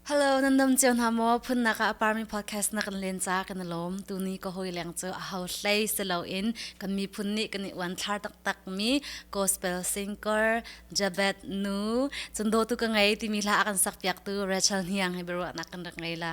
Hello, nan dam cio hna maw phunnak ah parmi podcast na kan len ca kan lawm tuni ka hoi leng cu a ho hlei silo in kan mi phun nih kan i uan thlar tak tak mi gospel singer Jabet nu chundo tu ka ngei timi hla kan sak piak tu Rachel Hniang hi beruwa nak kan rak ngei la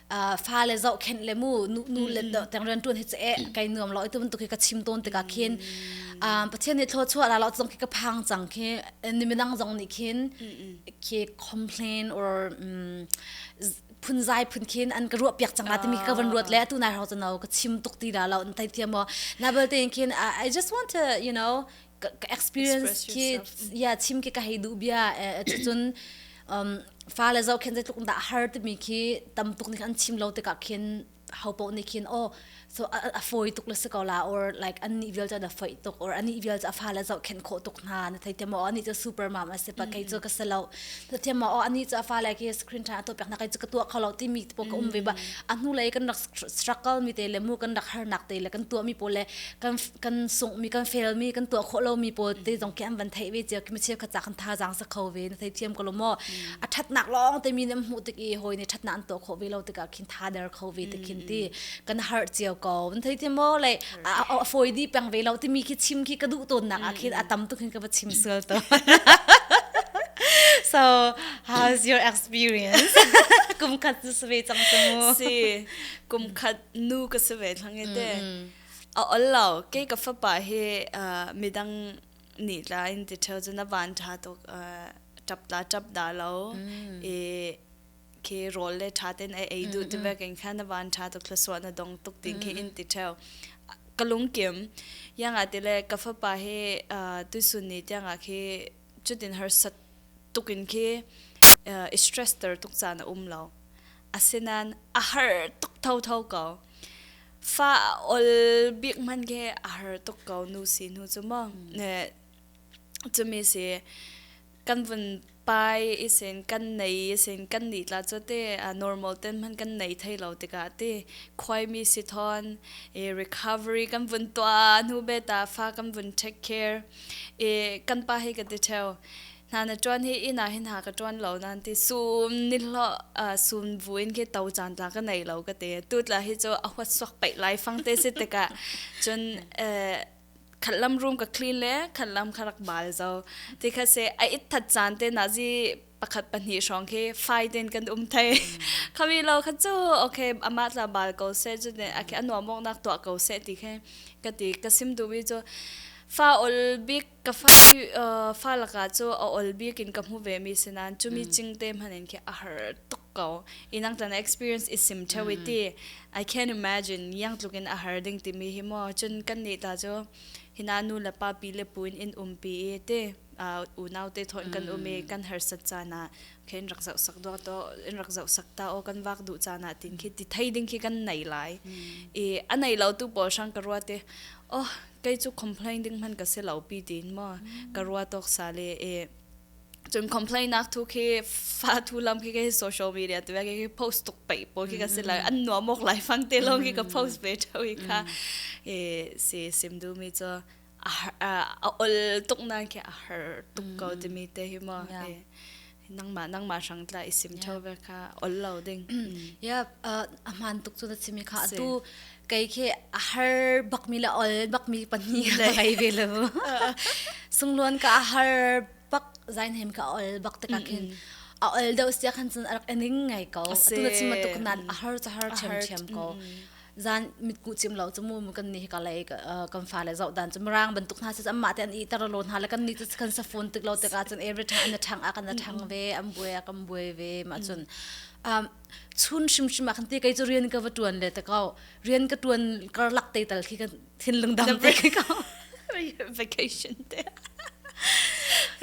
fa le zo khen le mu nu le tang ran tun hi che kai nuam lo tu tu khi ka chim ton tika khin pathian ni thlo chua la lo tong khi ka phang chang khi ni minang zong ni khin khi complain or phun zai phun khin an ka ruwa piak chang la timi ka van ruat le tu na ho chano ka chim tuk ti la lo an tai thiam mo na bal te khin i just want to you know ka, ka experience ki ya chim ki ka hei du bia chu chun um fa le zo khen tluk da har te mi khi tam tuk ni kan chim lo te ka khin haupo ni khin oh so a, a foi tuk le se ko la or like an ni vial cha da foi tuk or ani vial cha fa le zo khen kho tuk na na thai temo ani cha super mom ase pa kai cho ka selo to temo o ani cha fa le ke screen tha to pek na kai chu ka tua khalo ti mi to ko um ve ba a nu le kan rak struggle mi te le mu kan rak harnak te le kan tuah mi pawl le kan kan sung mi kan fail mi kan tuah khawh lo mi pawl te zong kem van thei ve cia ki ma cheu kha kan tha jang sa kho ve na thei thiam ko lo mo a thatnak long te mi ne mu tik i hoi ne thatna an to kho ve lo tik ah khin tha der kho ve te khin ti kan har cio ko na thei thiam mo le a fawi dih peng ve lo timi khi chim khi ka duh tawnnak ah khin a tam tuk hin ka va chim sual to so how's your experience kum khat su ve cang su mu si kum khat nu ka su ve thange te a ol lo ke ka fa pa he midang ni tla in ti theu jana ban tha to tap da tap da lo e ke rol le tha ten ai ei du te ba ken khan na van tha to khlaswa na dong tuk tin ke in ti theu kalung kim yanga te le ka fa pa he tu sun ni tianga ke chutin har sat tukin ke stress ter tuk cha na um lo asinan a har tuk thau thau ko fa ol big man ke a har tuk ko nu si nu chu mo ne chumi si kan vun pai i sin kan nei i sin kan ni tla cu te uh, normal ten hman kan nei thei lo tikah te khoimi si thon i recovery kan vun tua nu beta fa kan vun take care i kan pa hi ka ti theo na na tuan hi ina hin ha ka tuan lo nan ti sum ni lo sum vu in ke to chan ta ka nei lo ka te tu tla hi chu a huat sok pai lai fang te se tika chun khat lam room ka clean le khat lam kha rak bal zo ti kha se a it that chan te na ji pakhat pahnih hrawng khi fai den kan um thai khami lo kha chu okay ama tla bal ko se chu ne a ke anwa mok nak to ko se ti khe ka ti ka sim du wi chu fa ol bik ka fa hi fa laka chu a ol bik in ka mu ve mi sinan chumi ching te manin khi a har tuk ko inang tan experience is sim thewiti I can imagine niang tluk in a har ding timi hi maw cun kan nih ta cu hina nu le pa pi le pu in in um pi i te unau te thon kan um i kan har sat caan ah khin rak zoh sak dua to in rak zoh sak ta o kan wak duh caan ah tin khi ti thei ding khi kan nei lai i a nei lo tu pawl sang ka rua te oh kai chu complain ding man ka se lo pi tin mo ka rua tok sa le e cun complain nak thu khi fa thu lam khi ke social media tu ke ke post tuk pe po khi ka si lai an no mok lai fang te long khi ka post pe thau i kha e si sim du mi cho a ol tuk na ke a har tuk ko ti mi te hi mo nang ma nang ma sang tla isim thau ve kha ol lo ding ya a man tuk tu na simi kha atu kei khi a har bakmi le ol bakmi pahnih ka ngei ve lo sungluan ka a har bak zain hem ka ol bak te ka khin a ol do sia khan chun arak ening ngai ko tu na chima tuk nan a har cha har chem chem ko zan mit ku chim lo chu mu mu kan ni ka lei kan fa le zau dan chu mrang ban tuk na se amma te an i tar lo na la kan ni chu kan sa phone tik lo te ka chun every time na thang a kan na thang ve am bue a kam bue ve ma chun chun hrimhrim ah khan te kei cu rian ka va tuan le ta kau rian ka tuan karlak te tal khi kan thinlung dang te khi kau vacation te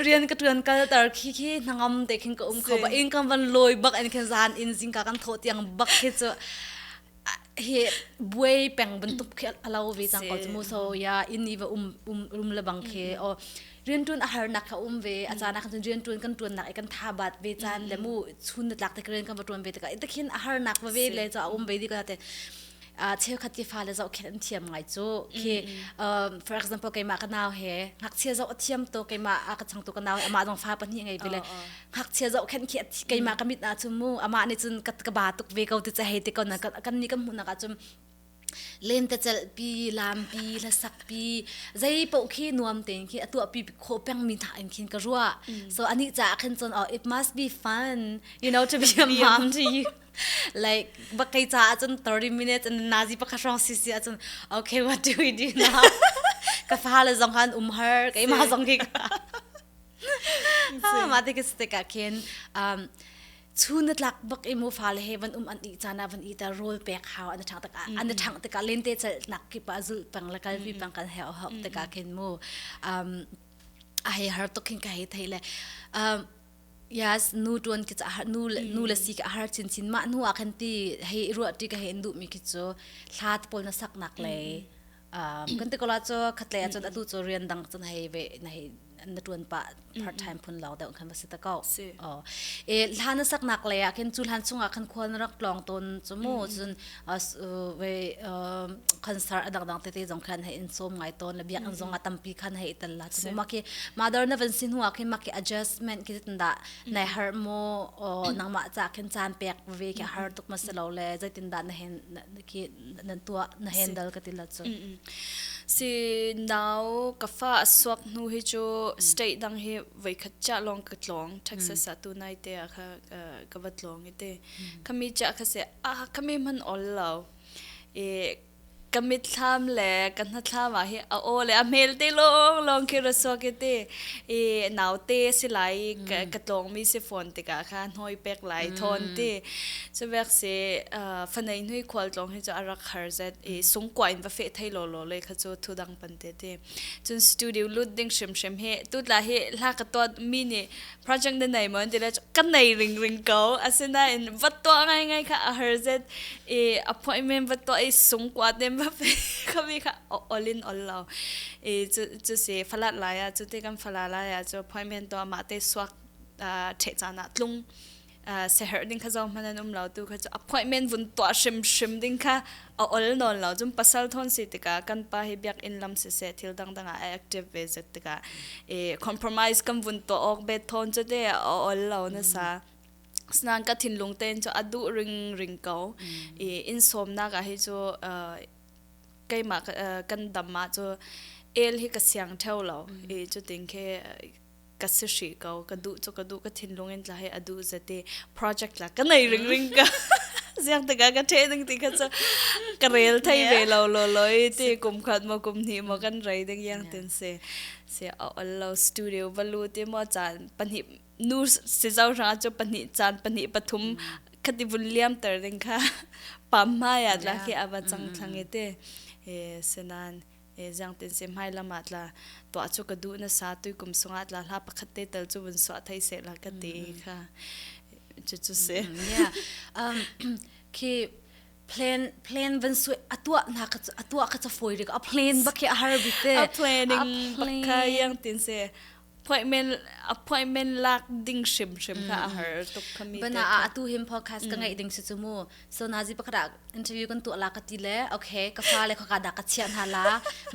rian ka tuan kal tar khi khi nangam te khin ka um kho ba ingam van loi bak en khen zan in zingka kan tho tiang bak khi chu hi buai peng bantuk khi alo ve cang ko mu so ya in ni va um um rum le bang khi o rian tun a har nak kha um ve a cana khan rian tun kan tun nak kan tha bat ve chan le mu chun na tlak te kren kan va tun ve te ka itakhin a har nak va ve le cha um ve di ka te a cheu khat ti fa le zo khen an thiam ngai chu khi for example keima ka naw he ngak chia zo thiam to keima a ka chang to ka naw ama dong fa pa ni ngai vele ngakchia zohkhenh khi keimah ka mit na cu mu amah nih cun ka ka ba tuk ve ko ti cha hei te ko na kan ni kan hmuh nak ah cun len te chel pi lam pi la sak pi zei po khi nuam te khi a tua pi kho peng mi tha in khin ka rua so ani cha khin chon oh it must be fun you know to be a mom to you like ba kai cha cun 30 minutes and nazi pa khashrong sisi a cun okay what do we do now ka fa le zong han um her ke ma zong ki mah te ke stik ah khin um chu na tlak bak i mo fa le he van um an i chana van i ta rol pek hau an thang tak an thang tak len te chal nak ki pa zul pang la kal vi pang kal he hok te ka khin mu um a he har to khin ka he thei le um yes nu tuan ki cha nu nu le si ka har chin chin ma nu a khan ti he ruati ka he du mi ki chu thlat pol na sak nak le kan te kola cho khatle chon atu cho rian dang chon hei ve na hei na tuan pa part time phun law deu khan basi ta ko o e hlan sak nak le akin chu hlan chunga khan khol na rak long ton chumu chun we concert adang dang te te jong khan hei in som ngai ton la biak an zonga tampi khan hei tal la chu ma ki mother na van sin huwa ki ma ki adjustment ki tanda nai har mo nangma cha khin chan pek ve ke har tuk ma selo le jaitin da na hen ki na tuah na handle ka tila chu si now ka fa suak nu hi chu state dang hi voi khat cha long ka tlong texas a tu nai te kha ka va tlong ite khami cha kha se a khami man all lo e kamit thlam le kanna thlama hi a o le a mel te long long khi raswa ke te e naw te silai ka tlong mi se phone te ka kha noi pek lai thon te Cuvek se fanei nui khual tlong hi chu a rak har zet i sung kwa in va fe thei lo lo le kha chu thu dang pan te te cun studio lut ding hrim hrim he tu tla hi hla ka to mi ni project na nei mon ti le ka nei ring ring ko asina in va to ngai ngai kha a har zet i appointment va to i sung kwa dem va fe khavi kha all in all lo i chu se falat la ya chu te kan fala la ya chu appointment to ma te suak the chana tlung seher ding kha zong man an um lo tu kha appointment vun tua hrim hrim ding kha a ol non lo jum pasal thon si tika kan pa hi biak in lam se se thil dang dang a active ve zet tika e compromise kam vun to ok be thon chu te a ol lo na sa snang ka thin lung ten chu adu ring ring ko e in som na ga hi chu keima kan dama chu el hi ka siang theo lo e chu ting ke ka si hri ko ka duh cu ka duh ka thinlung in tla he a duh zate project la ka nei ring ring ka ziak taka ka the ding ti ka cha ka rel thai ve lo lo loi ti kum khat mo kum ni mo kan rai ding yang tin se se all lo studio balu ti mo chan pani nu si zau ra chu pani chan pani pathum khati vun liam tar ding kha pam ma ya la ke awa chang thlange te e senan e zangtin se hmai lam ah tla tuah cu ka duh na sa tu kum sungah tla hla pakhat te tal cu vun suah thai se la ka ti kha cu cu se yeah um khi plan plan van su atua na ka atua ka cha foi rik a plan ba khi a har bite a planning bakha yang tin se appointment appointment lak ding hrim hrim kha a har tuk kami bana a tu him podcast ka ngai ding su chu mu so na ji pakra interview kan tu la ka ti le okay ka fa le kha da ka chia na la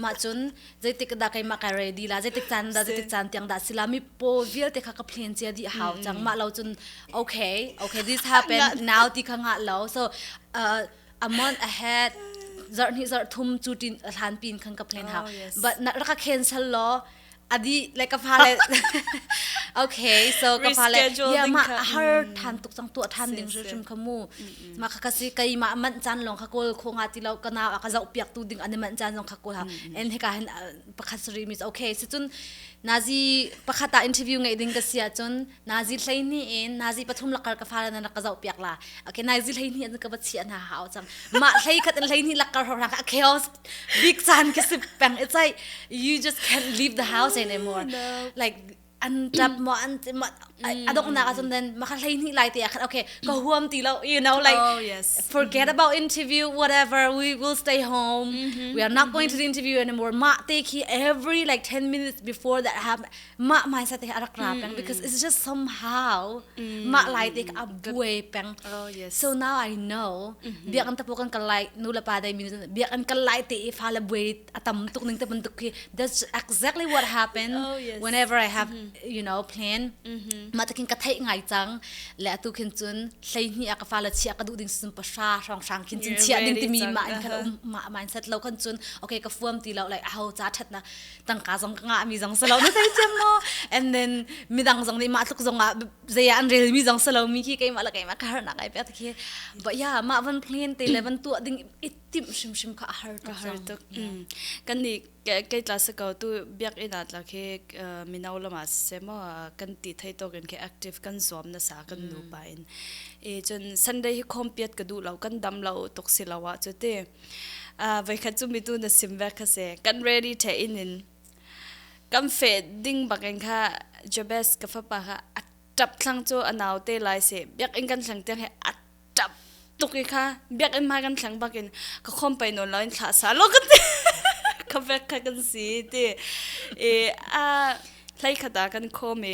ma chun zeitik da kai ma ka ready la zeitik tan da zeitik tan tiang da sila mi po vil te kha ka plan che di hau chang ma lo chun okay okay this happened now ti kha nga lo so uh, a month ahead zart ni zart thum chu tin a thlan pin khan ka plan ha but na ra ka cancel lo a dih like ka fale okay so ka fale ya ma a har than tuk chang tua than ding hrim hrim kha mu ma kha ka si kai ma man chan long kha kol kho nga ti lo kana aka zau piak tu ding ane man chan long kha kol ha en he ka hin pakhat sri means okay si chun nazi pakhata interview ngai ding ka sia chun nazi hleini in nazi pathum lakar ka fale nan rak ka zoh piak la okay nazi hleini an ka bachi ana ha au chang ma hlei khat in hleini lakar ho ra ka chaos big chan ke sip pang it's like you just can't leave the house anymore like an tap mo an ti mo adok na ka chum then ma kha hlei ni lai te khat okay ko huam ti lo you know like oh, yes. forget about interview whatever we will stay home we are not going to the interview anymore ma te ki every like 10 minutes before that happened mah mindset he a rak ra peng because it's just somehow mah lai te a buai peng so now I know biak an tapo kan kal lai nu le pa dai mi biak an kal lai te i fa le buai a tam tuk ning te bantuk khi that's exactly what happened whenever I have you know plan ma takin ka thai ngai cang le atu khin cun hlei ni a ka fa le chia ka du ding sun pa sha hrang hrang khin chin chia ding ti mi ma in kan um ma mindset lo kan cun okay ka fuam ti lo like a ho cha that na tangka zong ka ngah mi zong si lo na thei cem maw and then midang zong nih mah tluk zong ah zeya an rel mi zong si lo mi khi keimah le keimah ka har nak ai pe ta khi ba ya ma van phngin te le van tu ding i tim shim shim kha a har tuk har tuk kan ni kai tla se ko tu biak ina tla khi minau lama se mo kan ti thai to kin ke active kan zom na sa kan nu pa in e chun sunday hi khom piat ka du lo kan dam lo tok si lawa chu te uh, voikhat cu mitu na sim ve kha se kan ready the in in kam fe ding bakin kha jabes ka fa pa kha atap thlang chu anau te lai se biak in kan thlang te he atap tuki kha biak in ma kan thlang bakin ka khom pai non lain thla sa lo kan ka ve kha kan si ti e a hlai khata kan kho me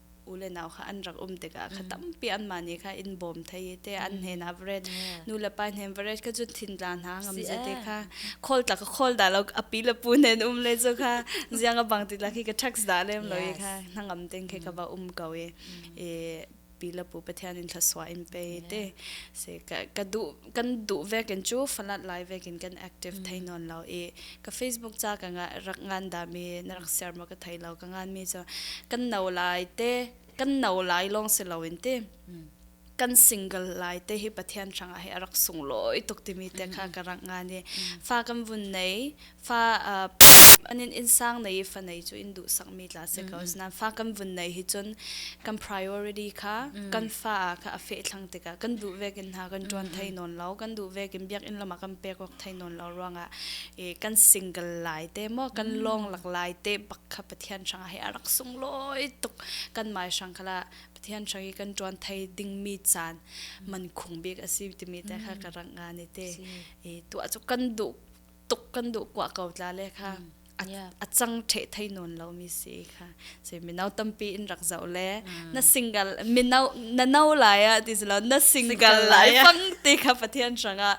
u le nau kha an rak um tikah kha tampi anmah nih kha in bawm thai i te an hnen average nu le pa hnen average kha cu thinla hna ngam ze te kha khawl tlak khawl da lo api le pu hnen um le cu kha ziang a bang ti la khi ka trucks da lem lo i kha hnangam ting khi ka ba um ko i e pi le pu pathian in thlaswa in pe te se ka ka du kan duh vekin cu falat lai vekin kan active thei nawn lo i ka facebook ca ka nga rak ngan dami na rak ser maw ka thei lo ka ngan mi cu kan no lai te kan no lai lawng si loin te kan single lai te hi pathian hrangah he a rak sung loi tuk timi te kha ka rak ngan i fa kan vun nei fa uh, an in insang nei fa nei chu in du sak mi tla se ko mm-hmm. nan fa kan vun nei hi chun kan priority kha mm. kan fa ka a fe thlang te ka kan du ve kin ha kan tuan thai non lo kan du ve kin biak in lama kan pe ko thai non lo ruanga e kan single lai te mo kan mm. long lak lai te pak kha pathian sang he arak sung loi tuk kan mai sang khala pathian sang hi kan tuan thai ding mi chan man khung bik asi ti mi te kha ka ranga ni te e tu a chu kan du tuk kan duh kwa ko tla le kha a chang the thei non lo mi si kha se minau tampi in rak zau le na single minau na no lai a ti lo na single lai pang ti kha pathian sanga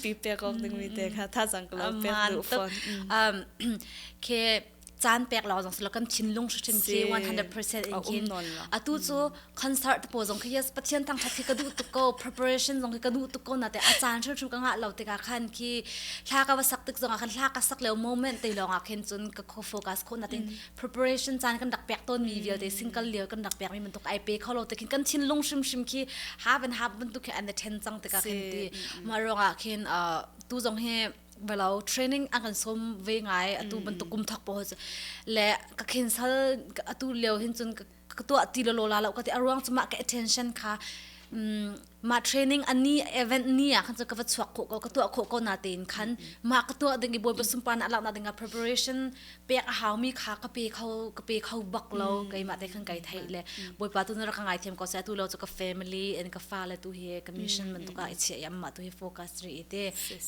pi pe ko ding mi te kha tha jang lo pe du phone um ke caan pek law zong silo kan thinlung hrim khi 100% in kin atu chu concert po zong khi yes pathian tang that khi ka du tu ko preparation zong khi ka du tu ko na te a caan hru hru ka nga lo te ka khan khi thla ka wa sak tik zong khan thla ka sak le moment te long a khen chun ka kho focus ko na tin preparation caan kan dak pek ton mi vial te single lieu kan dak pek mi man tuk ai pe kho lo te khin kan thinlung hrim hrim khi half and half ban tu khi an the ten chang te ka khen ti ma rong a khin tu zong he belo training a kan som ve ngai atu bantuk kum thak po le ka cancel atu leo hin chun ka tua ti lo la lo ka ti aruang chuma ka attention kha ma training ani event ni a khan ka va chuak ko ka tua kho ko na te in khan ma ka tua ding i boy basum pa na la na ding a preparation pek a haumi kha ka pe kho ka pe kho bak lo mm. keimah te khan kai thei le mm. bawipa tu na rak ka ngai thiam ko sai tu lo chu ka family and ka fa le tu hi ka mission mm, man tu ka i chia yam ma tu hi focus ri ite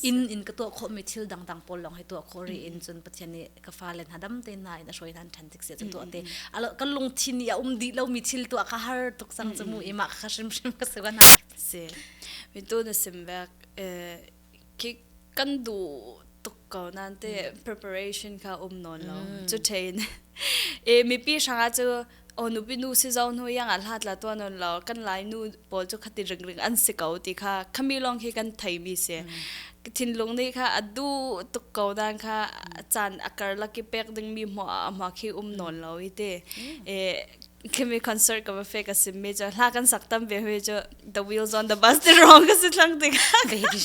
in in ka to kho mi thil dang dang pol long hi to kho ri in chun pathian ni ka fa le na dam te na in a soi nan than tik se to te alo ka lung thin ya um di lo mi thil to ka har tuk sang chu mu ima kha shim shim ka se na se mi tu na sim bek khi kan duh tuk ko nan te preparation kha um nawn lo cu thein e mipi hranga cu o nupi nu si zo nu yang a hlat la tua non lo kan lai nu pawl cu khati ring ring an si ko ti kha khami long hi kan thei mi se thinlung ni kha adu tuk ko dan kha chan akar laki pek ding mi mo a mo khi um non lo ite e Kemi concert ka va fe ka sim me cho hla kan sak tam ve hui cho the wheels on the bus ti wrong ka si thlang ti baby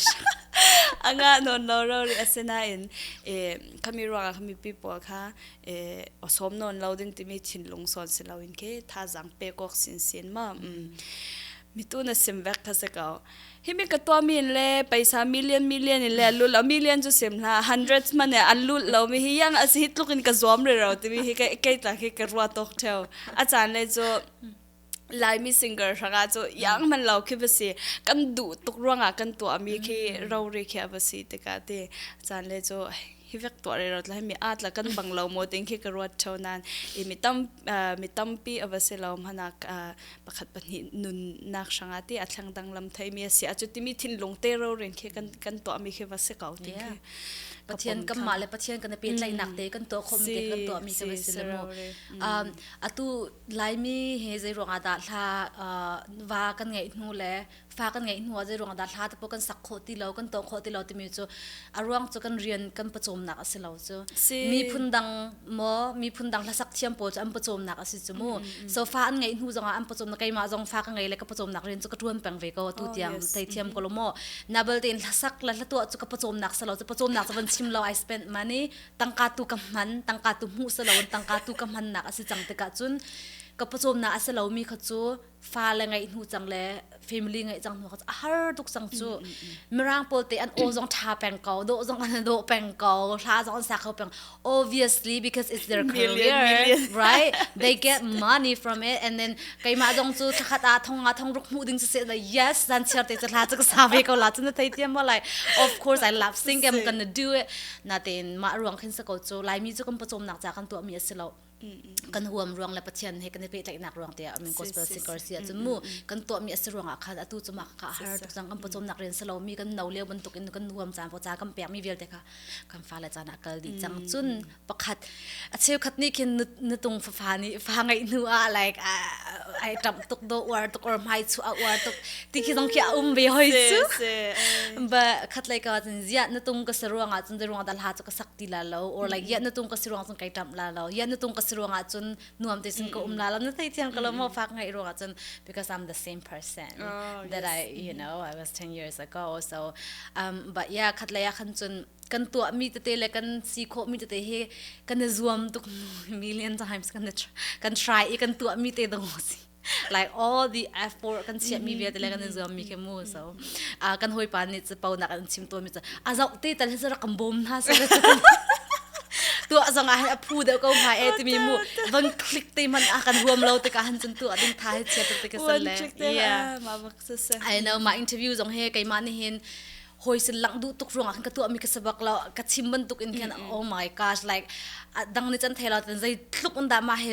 anga non lo ro ri asina in e khami ruanga khami people kha e osom non lo ding timi thin lung son si lo in ke tha jang pe kok sin sin ma mitu na sim vek kha se ko hi mi ka tua min le paisa million million in le lut lo million chu sim hna hundreds man ne an lut lo mi hi yang asi tluk in ka zuam re ro ti mi hi kai kai ta khi ka ruwa tok theu a chan le chu laimi singer hranga chu yang man lo khi basi kan du tuk ruanga kan tua mi khi ro ri khia basi te ka te chan le chu hi vek tua re ro tla mi at la kan bang lo mo ting khi ka ruat theu nan i mi tam mi tampi awa se lo mana pakhat pahnih nunnak hranga te a thleng dang lam thai mi sia chu timi thinlung te ro rin khi kan kan to mi khi va se kau ti khi pathian kam ma le pathian kan pe tlai nak te kan to khom te kan to mi khi va se le mo atu lai mi he zai ronga da thla wa kan ngei hnu le fa kan ngeih hnu ah zeiruang dah hla tapo kan sak khawh ti lo kan tawng khawh ti lo timi cu a ruang cu kan rian kan pawcawmnak a si lo cu miphun dang maw miphun dang hlasak thiam pawl cu an pawcawmnak a si cu mu so fa an ngeih hnu zong ah an pawcawmnak keimah zong fa ka ngei le ka pawcawmnak rian cu ka tuan peng ve ko tu tiang thei thiam ko lo mo na balte in hlasak la hlatuah cu ka pawcawmnak sa lo cu pawcawmnak cu van chim lo i spend money tangka tu ka hman tangka tu hmu sa lo tangka tu ka hmannak a si cang tikah cun ka pawcawmnak a si lomi kha cu fa le ngeih hnu cang le family ngeih cang hnu a har tuk cang cu mirang pawl te an o zong tha peng ko do zong an do peng ko hla zong an sa kho peng obviously because it's their career right they get money from it and then keimah zong cu thakhat a thong a thong ruk mu ding se like yes zan chher te hla chu sa ve ko la chu na thei tiam mo like of course i love sing i'm gonna do it na tin ma ruang khin sa ko chu lai mi chu kan pachom nak cha kan to mi asilo kan huam ruang le pathian he kan i pehtlaihnak ruang te ah min gospel singer sia chu mu kan to mi asi ruang ah khan atu chu ma ka har tuk sang kan pocom nak ren salo mi kan no leu bantuk in kan huam chan po cha kan pek mi vialte kha kan fa le chan a kal di chang chun pakhat a cheu khat ni khin na tung fa fa ni fa ngai nu a like ai tam tuk do war tuk or mai chu a war tuk ti khi dong kia um ve hoi chu ba khat lai ka zin zia na tung ka sa ruang a chun de ruang dal ha chu sak ti la lo or like yan na tung ka si ruang cun kai tam la lo yan na tung ka si ruang ah cun nuam te sin ka um la lo na thei thiang ka lo mo fak ngai ruang ah cun because I'm the same person oh, that I you know I was 10 years ago so um but yeah khat la ya khan cun kan tua mi tete le kan si kho mi tete he kan zuam tuk million times kan kan try i kan tua mi te dong si like all the effort kan chiah mi vialte le kan in zuam mi khi mu so a kan hoi pa nih cu pau nak an chim to mi cu a zok te tal hi zara kan bom hna so tu azong ah a phu deuh ko ma e timi mu van click te man a kan huam lo te ka han cun tu ading tha he chia te ka san le yeah I know ma interview zong he kai ma ni hin hoi sin lang du tuk ruang kan ka tu mi ka sabak lo ka chim ban tuk in khan oh my gosh like dang ni chan thela tan zai tluk un da ma he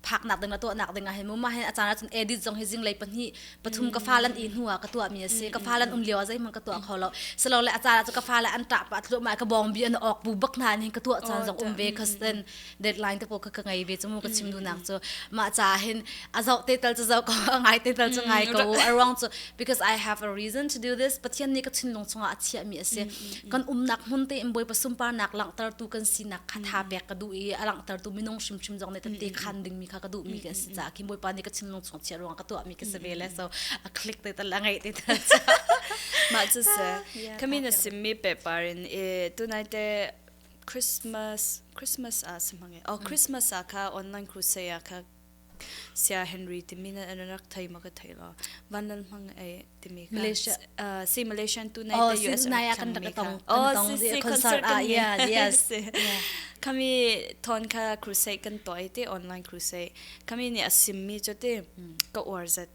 phaknak ding le tuahnak ding ah hin mumma hin a caan ahcun edit zong hi zinglei pahnih pathum ka fa lan i hnu ah ka tuah mi a si ka fa lan um lio ah zeihmanh ka tuah kho lo silo le a caan ahcun ka fa le an tah pa tluahmah ka bawng bi an ok bu bak hna nih ka tuah caan zong um ve ka sen deadline te po ka ka ngei ve cu mu ka chim dunak cu ma ca hin a zau te tal cu zau ko ngai te tal cu ngai ko a ruang cu because i have a reason to do this pathian nih ka thinlung chungah a chiah mi a si kan umnak hmun te in bawipa sunparnak langhtertu kan sinak kha tha pek ka duh i a langhtertu minung hrimhrim zong nih tete khan ding mi kha ka duh mi kan si caah ki bawipa nih ka thinlung chung chia ruang ka tuah mi ka si ve le so a click te tal a ngai te tal mah cu se kami na simmi paper in e tunai te christmas christmas a si mange oh christmas a kha online crusade a kha Sia Henry timi na an rak thei ma ka thei lo. Van Lal Mang ai timi ka. Malaysia uh si Malaysian tu nai the US nai kan da tong kan tong di concert ah yeah yes. Kami thon ka crusade kan toy te online crusade. Kami ni asim mi cho te ka war zat.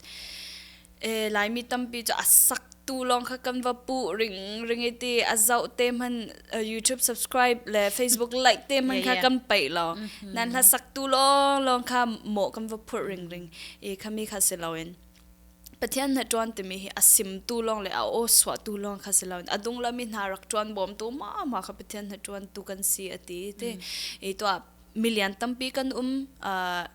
e laimi tampi cu a sak tu lawng kha kan va pu ring ring i ti a zoh te hman uh, YouTube subscribe le Facebook like te hman kha kan pei lo nan hla sak tu lawng lawng kha mo kan va phu ring ring i khami kha si loin pathian na tuan timi hi a sim tu lawng le a o swa tu lawng kha si loin a dung lami hna rak tuan bom tu ma ma kha pathian na tuan tu kan si ati te i to milian tampi kan um uh,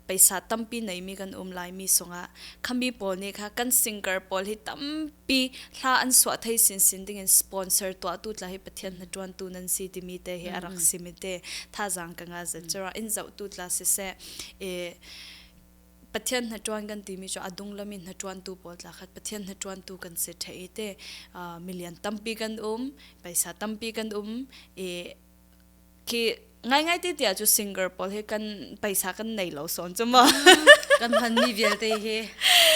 peisa tampi neimi kan um lai mi sunga khami pawl ni kha kan singer pawl hi tampi hla an suwa thei sin sin ding in sponsor tua tu tla hi pathian na tuan tu nan si timi te hi arak simi te tha zang ka nga zan chura in zau tu tla si se e pathian na tuan kan ti mi cho adung lami na tuan tu pawl tla khat pathian na tuan tu kan se the te milian tampi kan um paisa tampi kan um e khi ngaingai te tia chu singer pawl he kan paisa kan nei lo son chu ma kan han mi vialte he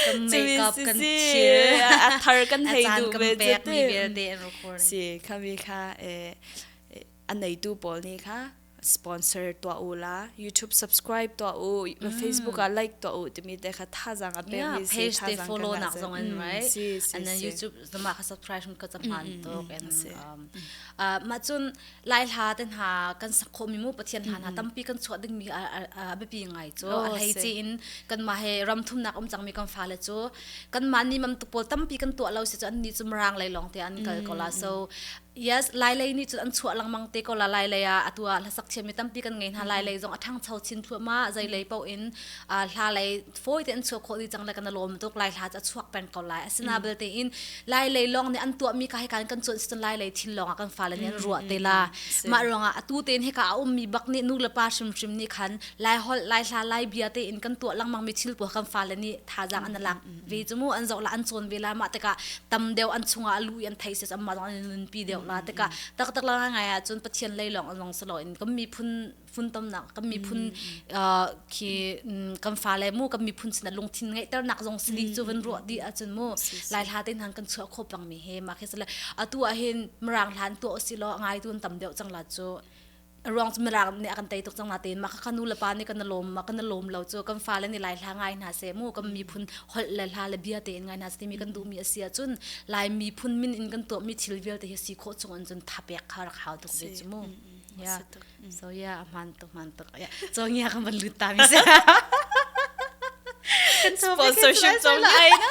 kan makeup kan chill a thar kan hei du ve pek mi vialte an recording si khami kha eh an nei tu pawl ni kha sponsor tua u la youtube subscribe tua u facebook a like tua u timi te kha tha jang a pe mi si page te follow nak zong an right and then youtube zama kha subscribe hun ka cahman tuk en mah cun lai hla te hna kan sakho mi mu pathian hna hna tampi kan chuah ding mi a biapi ngai cu a hlei ci in kan ma he ram thum nak um cang mi kan fa le cu kan ma ni mam tu pawl tampi kan tuah lo si cu an ni cum rang lei long te an kal ko la so Yes, lailei nih cun an chuah lengmang te ko la lailei ah atu ah hlasak thiam mi tampi kan ngei hna lailei zong a ṭhangcho chin thluahma zei lei paoh in hla lei fawi te an chuah khawh dih cang le kan lawm tuk lai hla cu a chuak peng ko lai asina belte in lailei lawng nih an tuah mi ka hi kan kan cuanh si cun lailei thin lawng ah kan fale nih an ruah te la mah ruangah atu tein hika a um mi bak nih nu le pa hrimhrim nih khan lai holh lai hla lai bia tein kan tuah lengmang mi thil pua kan fale nih thazaang an lak ve cu mu an zoh la an cawn ve la mah tikah tam deuh an chungah a lu i an thei si amma zong an nunpi deuh la tikah taktak la ngai ah cun pathian lei lawng lawng si loin kan miphun funtomnak kan miphun khi kan fa le mu kan miphun sin lungthin ngeihternak zong si di cu van ruah di ahcun mu lai hla te hang kan chuah kho pang mi he ma khi sale atu ah hin mrang hlan tu si lo ngai tun tam deuh cang la cu ruang cu mirang nih a kan tei tuk cang natein mah ka nu le pa nih kan lawm ma kan lawm lo cu kan fa le nih lai hla ngai hna se mu kan miphun holh le hla le bia tein ngai hna se timi kan duhmi a si ahcun lai miphun min in kan tuahmi thil vialte hi si khawh chung in cun thapek kha rak hau tuk ve cu mu yeah so yeah a hman tuk hman tuk yeah so ngia kan van lut ta mi se kan sponsorship cong ai na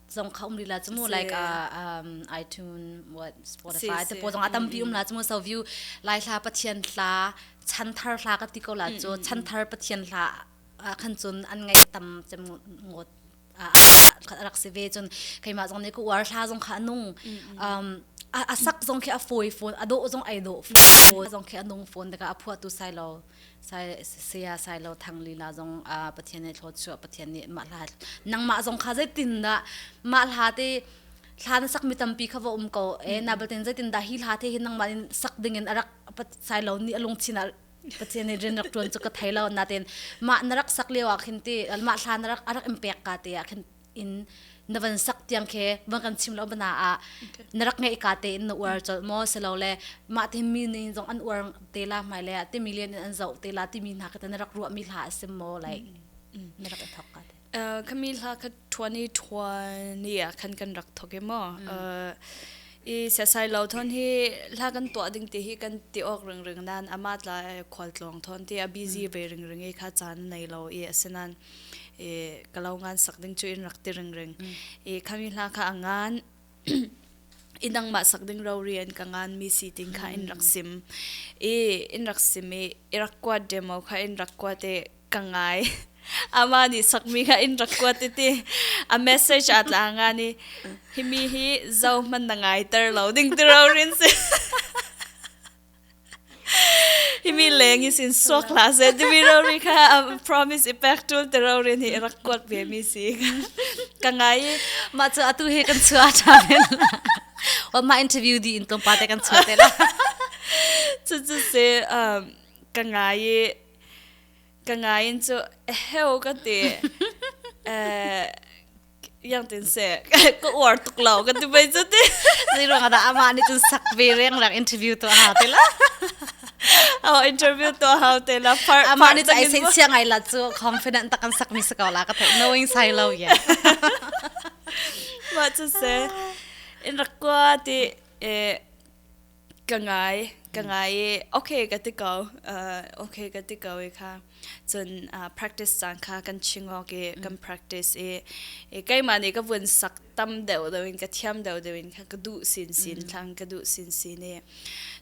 zong kha um rila chu mu like uh, um, iTunes what Spotify te po zong atampi um la chu mu so view lai thla pathian thla chan thar hla ka ti ko la chu chan thar pathian hla khan chun an ngai tam chem ngot rak si ve chun keima zong ne ku war hla zong kha nung asak zong khi a foi phone ado zong ai do phone phone zong khi anung phone daga aphuatu sai lo saya sailo thang lila zong pathian ai thlawt chu pathian nih mah hla nangmah zong kha zeitin dah mah hla te hla na sak mi tampi kha va um ko e na batin zeitin dah hi hla te hi nangmah in sak ding in arak sailo ni alung chin al pathian ni rin rak tuan chu ka thailo natin mah na rak sak lio ah khin ti mah hla na rak arak impek ka te ah khin in na van sak tiang khe van kan chim lo bana a na rak ngei ka te in na uar chol mo selo le ma te mi ni zong an uar te la mai le te million in an zo te la ti mi na ka na rak ruwa mi hla sim mo like na rak thok ka te kami hla ka 2020 a khan kan rak thoke mo i sasai lo thon hi hla kan to ding ti hi kan ti ok ring ring nan ama tla khol tlong thon ti a busy ve ring ring e kha chan nei lo e asenan e kalau ngan sak ding chu in rak ti ring ring e khami hla kha angan inang ma sak ding ro rian ka ngan mi si ting kha in rak sim e in rak sim e irakwa demo kha in rakwa te ka ngai ama ni sakmi kha in rakwa ti ti a message atla nga ni himi hi zo man na ngai ter lo ding ti ro rin si himi leng is in sok la se timi rori kha promise i pek tul te rori ni rak kuat ve mi si ka ngai ma chu atu he kan chua tha men wa ma interview di in tom pa te kan chua te la chu chu se ka ngai ka ngai in chu heo ka te eh yang tin se ka uar tuk lo kan ti mai chu ti zero ga da ama ni chu sak ve reng rang interview to ha te la aw interview to ha te la part ama ni chu ai sen siang ai la chu confident tak kan sak mi se ko la ka tho knowing sai lo ye ma chu se in rakwa ti e ka ngai ka ngai i okay ka ti ko uh, okay ka ti ko i kha cun uh, practice caan kha kan chingawk i kan practice i i keimah nih ka vun sak tam deuh deuh in ka thiam deuh deuh in kha ka duh sin sin thlang ka duh sin sin i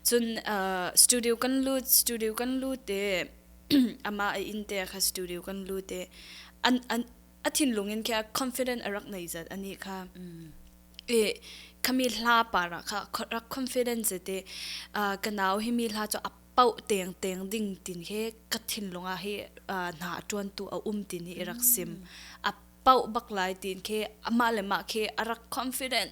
cun uh, studio kan lut studio kan lut i ama i in te kha studio kan lut i an an a thinlung in kha confident a rak nei zat ani kha e khami hla para kha rak confidence te ka nau hi mi hla chu a pau teng teng ding tin he ka thinlunga hi na tuan tu a um tin hi rak sim a pau bak lai tin ke ama le ma ke a rak confident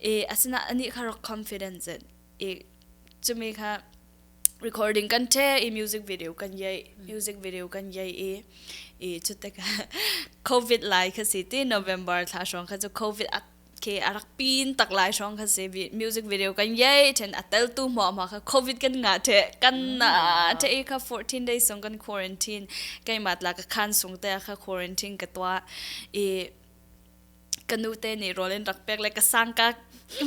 e asina ani kha rak confidence it e chumi kha recording kan the e music video kan yai music video kan yai e e chutte ka covid lai kha si ti november thla shong kha chu covid at ke arak pin tak lai shong kha se bi music video kan yai then atel tu mo ma kha covid kan nga the kan na the e kha 14 days song kan quarantine kai matla ka khan sung te kha quarantine ka twa e ka nu te nih rawl in rak pek le ka sang ka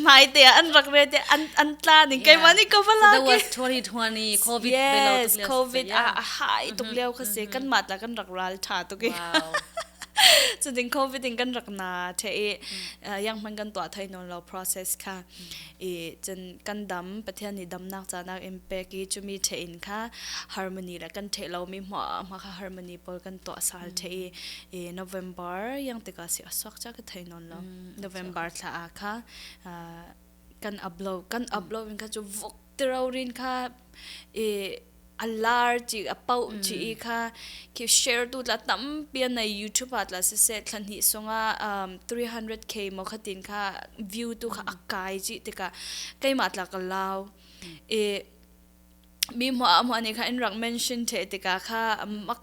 mai te ah an rak ve te an an tla ning kai mani ko bala ke 2020 covid yes covid a a hai tuk leo kha se kan ma ta kan rak ral tha tu ke chu ding covid in kan rak na the e yang man kan to thai non lo process kha i cun kan dam Pathian nih damnak ca nakin pek i chumi ṭhe in kha harmony le kan ṭhe lomi hma hma kha harmony pawl kan tuahsal ṭhe i i November yang tikah si a suak ca ka thei nawn lo November thla ah kha kan upload kan upload in kha cu vuk Tirorin kha i a lar chi a pau chi i kha ki share tu tla tampi na YouTube at la se se thlan hi sunga um 300k mo khatin kha view tu kha akai chi tika keima tla ka lao e mi mo mo ni kha in rak mention the tika kha mak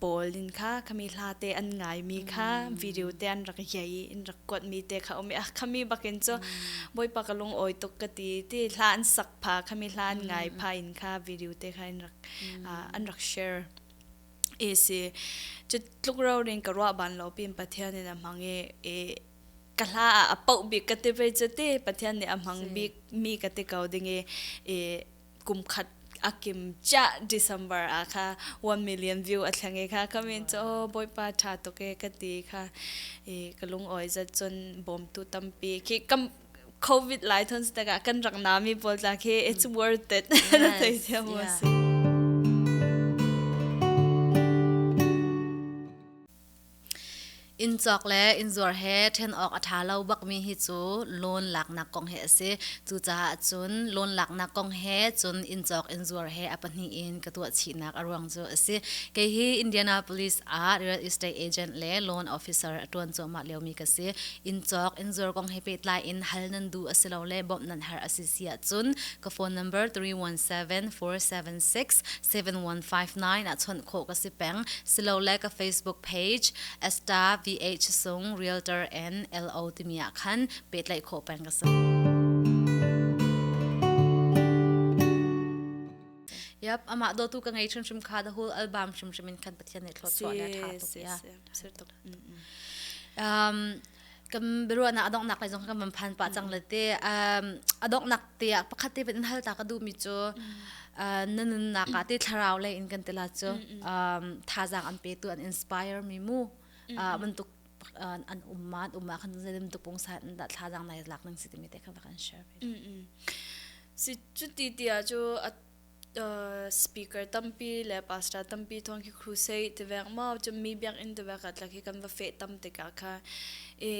pawl in kha khami hla te an ngaimi kha video te an rak yei in rak kuatmi te kha um ah khami bakin cu boipa ka lung oi tuk ka ti ti hla an sak pha khami hla an ngai pha in kha video te kha in rak an rak share esi chu tluk ro ring ka ruwa ban lo pin pathian in a mange e ka hla a pau bik ka te ve chu te pathian nih a mang bik mi ka te ko ding e kumkhat a kim cha December a kha 1 million view a thleng e kha comment cho oh, boipa tha to ke ka ti kha e ka lung oi za chun bom tu tampi khi kam covid lai thon sta ga kan rang nami bol tla khi it's worth it na tai thia mo si Inn cawk le inn zuar he ṭhen awk a ṭha lo bakmi hi cu loan laknak kong hi a si. Cucaah cun loan laknak kong he cun inn cawk inn zuar he a pahnih in ka tuah chihnak a ruang cu a si. Kei hi Indianapolis ah real estate agent le loan officer a ṭuan cuahmah liomi ka si. Inn cawk inn zuar kong he pehtlai in hal nan duh asilole bawmh nan har a si siahcun ka phone number three one seven four seven six seven one five nine ah chawnh khawh ka si peng silole ka Facebook page Esta VH Sung Realtor NLO timi ah khan pehtlaih khawh peng ka si. Yep, ama do tu ka ngei hrim hrim kha the whole album hrim hrim in kan pathian ne thlo chwa ne tha tuk ya. Um kan biaruahnak a donghnak lai zong kan van phan pah cang le te a donghnak te ah pakhat te in hal ta ka duhmi cu na nunnak ah te thlarau lei in kan tila cu thazaang an pe tu an inspire mi mu bantuk an umma an umma kan zelim tu pung sa in da thazaang nai lak ning si timi te kan kan share si cuti ti a cu speaker tampi le pastor tampi thawng khi crusade ti vek mo cu mi biakinn ti vek atlak hi kan va feh tam tikah kha e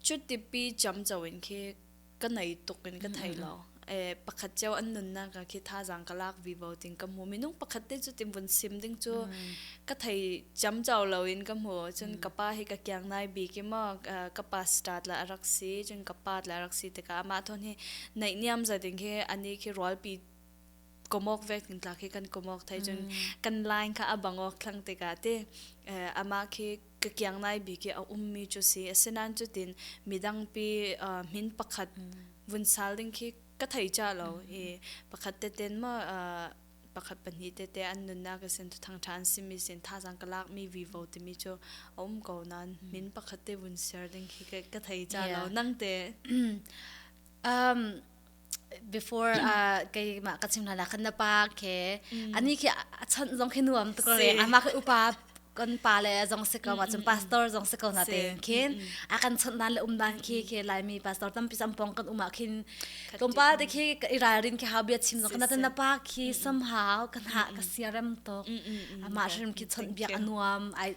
cutipi chamco in khi ka nei tuk in ka thei lo e pakhat cio an nunnak ka khi thazang ka lak vi bo ting ka mu minung pakhat te cu tim vun sim ding cu ka thei chamco lo in ka mu cun ka pa hi ka kiang nai bi ki mo ka pastor la arak si cun ka pa la arak si tikah amah thon hi neih niam za ding hi ani khi rualpi komok vek in tla khi kan komok thai cun kan line kha a bang awk thlang tikah ti ama khi ka kiang nai bi ki a ummi cu si asinain cutin midangpi min pakhat vun sal ding khi ka thei cha lo i pakhat te ten ma pakhat pahnih te te an nunnak a sin thang ṭha an simi sin thazang ka lakmi vivo timi cu a um ko nain min pakhat te vun share ding khi ka thei cha lo nang te um before uh, keimah ka chim hna khan na pa ke ani khi a chan zong khi nuam to re ama ke upa kon pa le zong se ko ma chum pastor zong se ko na te khin a kan chon dan le um dan khi khi lai mi pastor tam pisam pong kan uma khin kompa de khi irarin ki hau bia chim zong kana na pa khi somehow kan ha ka siarem to ama shrim ki chon bia anuam ai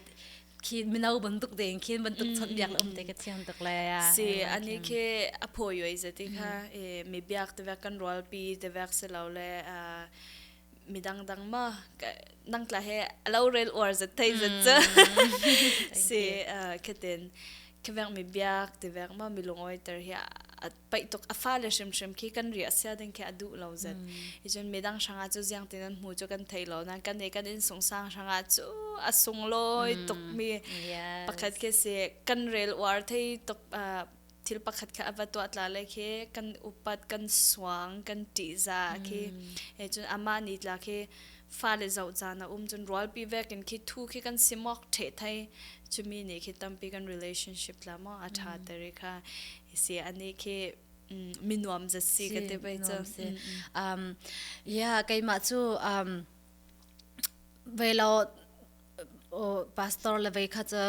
khi mino bantuk de in khin bantuk chon biak um te ke thiang tuk le ya si ani ke a pho yoi je ti kha e mi biak te kan rol pi te vek se lo le a mi dang dang ma nang tla he alo rel or je thei je si khetin khevek mi biak te vek ma mi lungoi ter hi paih tuk a fa le hrimhrim khi kan ri a sia ding khi a duh lo zet i cun midang hranga cu ziang tin an hmu cu kan thei lo nan kan i kan in sungsang hranga cu a sung lawi tuk mi pakhat khi si kan rel uar thei tuk thil pakhat kha ava tuah tla le khi kan upat kan suang kan ti za khi e cun ama ni tla khi fa le zo caan a um cun rual pi vek in khi thu khi kan simok the thai chumi ni khi tampi kan relationship la mo a tha teri kha hisi ani khi minuam za si ka te bai chu um yeah keima chu um velo pastor le vei kha cha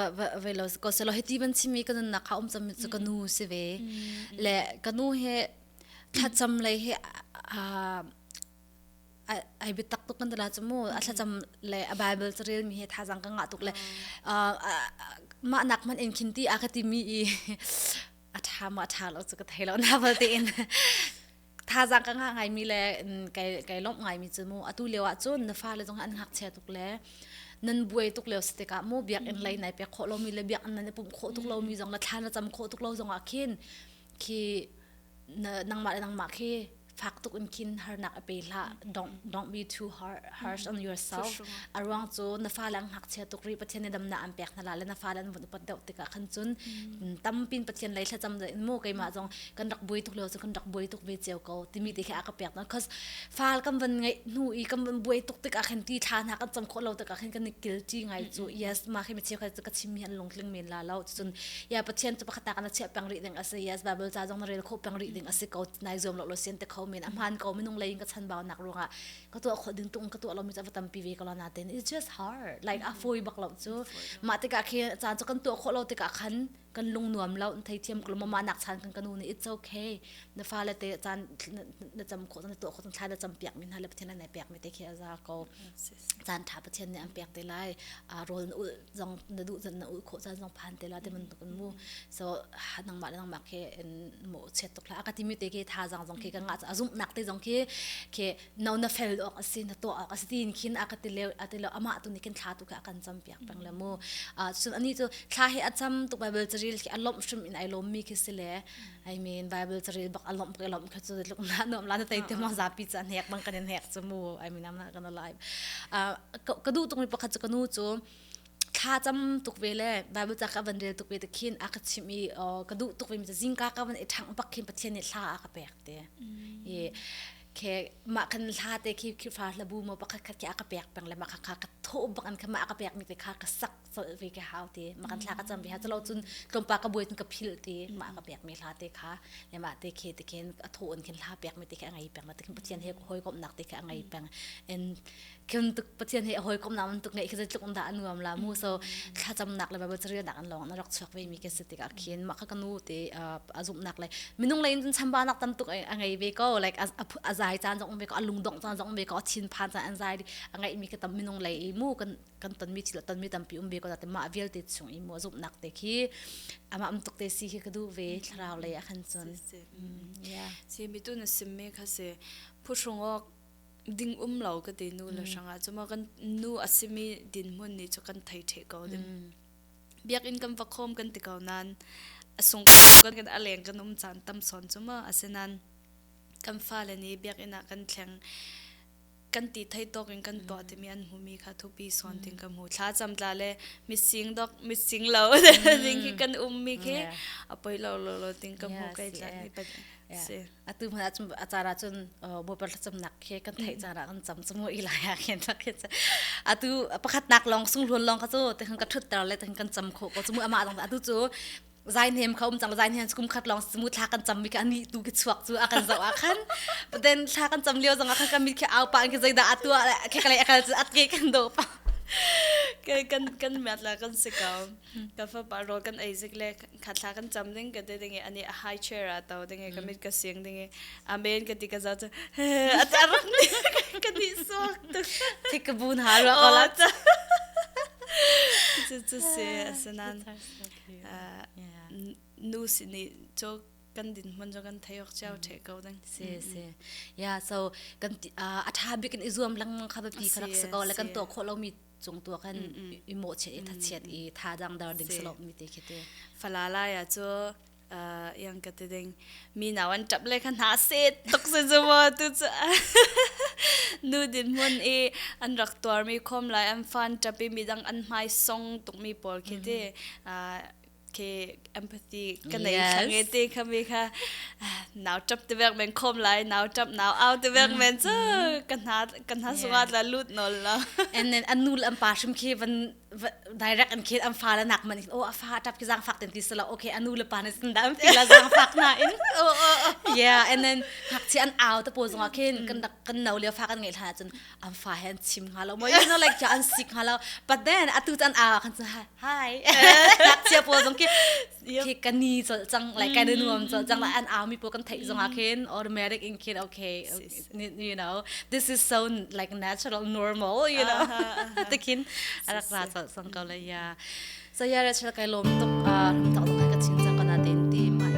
velo ko selo heti ban chimi kan na kha um cham chu ka nu si ve le ka nu he tha cham le he a ai bitak tuk kan dala chumu a thlacam le a bible chu rel mi he tha jang ka nga tuk le ma nak man en khin ti a ka ti mi i a tha ma tha lo chu ka thei lo na bal te in tha jang ka nga ngai mi le kai kai lom ngai mi chu mu atu lewa chun na fa le jong an ngak che tuk le nan buai tuk leo stik a mo biak in lei nai pe kho lo mi le biak nan pum kho tuk lo mi jong la thla na cham kho tuk lo jong a khin khi nang ma nang ma khi fak tuk in khin harnak a pe la don't don't be too harsh harsh on yourself a ruang chu na fa lang hak chia tuk ri pathian ne dam na an pek na la le na fa lan vun pat deuh tika khan chun tampin pathian lai thla cham da mu kai ma jong kan rak boi tuk lo chu kan rak boi tuk ve cheu ko timi te kha ka pek na cause fal kam van ngai nu i kam van boi tuk tika khen ti thla na kan cham kho lo tika khen kan ni kil chi ngai chu yes ma khi me cheu kha ka chim hi an lung tling men la lo cun ya pathian cu pakhat tak na chiah peng rih ding asi yes bible ca zong na rel kho peng rih ding asi ko nai zuam lo lo sian te kho men a hman ko minung lei in ka chan bau nak ruangah ka tuah kho ding tung ka tuah lo mi ca va tampi ve ko la na ten it's just hard like a foi bak lo cu ma tikah khi caan cu kan tuah kho lo tikah khan kan lung nuam lo in thei thiam ko ma nak chan kan kanu ni it's okay na fa le te caan na cham kho na tuah kho na thlai na cham piak min ha le pathian na piak mi te khi aza ko caan ṭha Pathian nih an pek te lai uh, rawl na ulh zong na duh na ulh khawh caan zong phan te la te bantuk in mu so nangmah le nangmah ke in mo chet tuk hla ka timi te ke tha zang zong ke ka nga a zumh nak te zong ke ke no na fel ok asi na to ok asi tin khin a ka te le a te le ama tu ni ken thla tu ka kan cham piak pang le mu uh, chun ani chu thla he acham tu bible charil ke alom shum in ai lom mi ke sile I mean Bible caril bak alom ke lom kha chu luk na nom la na tai te ma za pi cha hnek bang kan hnek chu mu I mean I'm not gonna lie uh ka du tung pakhat chu kanu chu thla cham tuk ve le bible cha ka van rel tuk ve te khin a ka chim i ka du tuk ve mi zing ka ka van e thang pak khin pathian ni thla a ka pek te e ke ma kan thla te khi khi fa la bu mo pakhat khat ke a ka pek peng le ma kha kha ka tho bak an kha ma ka pek mi te kha ka sak colh ve ke hau ti ma kan thla ka cham ve ha chalo chun tlompa ka buin ka phil ti ma ka pek mi hla te kha ne ma te khe te khen a tho on khin hla pek mi te khe ngai peng ma te khin pathian he hoi kom nak te khe ngai peng en khin tuk pathian he hoi kom nam tuk ngai khe tluk da anuam la mu so thla cham nak le ba ba chari nak an long na rak chok ve mi ke se ti ka khin ma kha kanu te azum nak le minung le in chamba nak tan tuk ngai ve ko like azai chan jong ve ko alung dong chan jong ve ko chin phan chan an zai ngai mi ka tam minung le mu kan kan tonmi thil tonmi tampi um ve ko te mah vialte chung i mo zumhnak te khi ama um tuk te si khi ka du ve thlarau lei a khan chun si mi tu na sim me kha se phu chung ok ding um lo ka te nu la hranga chuma kan nu asimi din mun ni chu kan thai the ko dim biak in kam fakhom kan ti ko nan asung ka tum kan kan aleng kan um chan tam son chuma asenan kan fa le ni biak ina kan thleng kan ti thei tawk in kan tuah timi an hmumi kha thupi sawn ting kan hmu thla cham tla le mitsing dok mitsing lo ding khi kan ummi khi a poi lo lo lo ting kan hmu kai tlak ni pat si atu hmana chum acara chun bopar chum nak khi kan thei cara kan cham chum ho ila ya khen thak khi atu pakhat nak long sung hlon long ka chu te kan ka thut tar le te kan cham kho ko chumu ama dong atu chu zai nem kha um cang zai nem kum khat long mu thla kan cham mi kha ani tu ke chuak chu a kan zo a khan then thla kan cham lio zong a khan mi khi au pa an ke zaida atua khe kale akal chu at ke kan do pa ke kan kan mat la kan se ka ka fa pa ro kan aizik le khatla kan cham ding ka de dinge ani a high chair a to dinge ka mit ka sing dinge amen ka ti ka za cha atar ka ni so tik ka bun ha ro ko la cha cha se asanan nu sin i cho kan din hman jo kan thai ok chau the ko dang si si ya so kan a tha bik in i zuam lang kha ba pi kharak se ko la kan to kho lo mi chung tu kan i mo che i tha chiat i tha dang dar ding slo mi te khite falala ya cho yang ka te ding mi naw an tap le kha hna se tok se zu wa tu chu nu din mun i an rak tuar mi khom lai an fan tapi mi dang an mai song tuk mi pawl khi te ke empathy ka nei khange te khami kha naw tap te vek men khom lai naw tap naw au te vek men chu ka hna ka hna sunga la lut nol la and then anu am pa shim khi van direct an kid an fa la nak man oh a fa tap ki zang fak ten ti so la okay anu le pa ne sin da ti la zang fak na in yeah and then hak chi an au ta po zong khin kan dak kan no le fa kan ngai tha chun am fa hen chim ha lo mo you know like an sik ha lo but then atu chan a kan hi hi hak chi po zong ki hi ka ni chol cang like kan nuam chol cang la an au mi po kan thei zong a khin automatic in kid okay you know this is so like natural normal you know te khin arak ra chol sang ko la ya so ya ra chal kai lom tuk rum ta ka chin chang kana den ti mai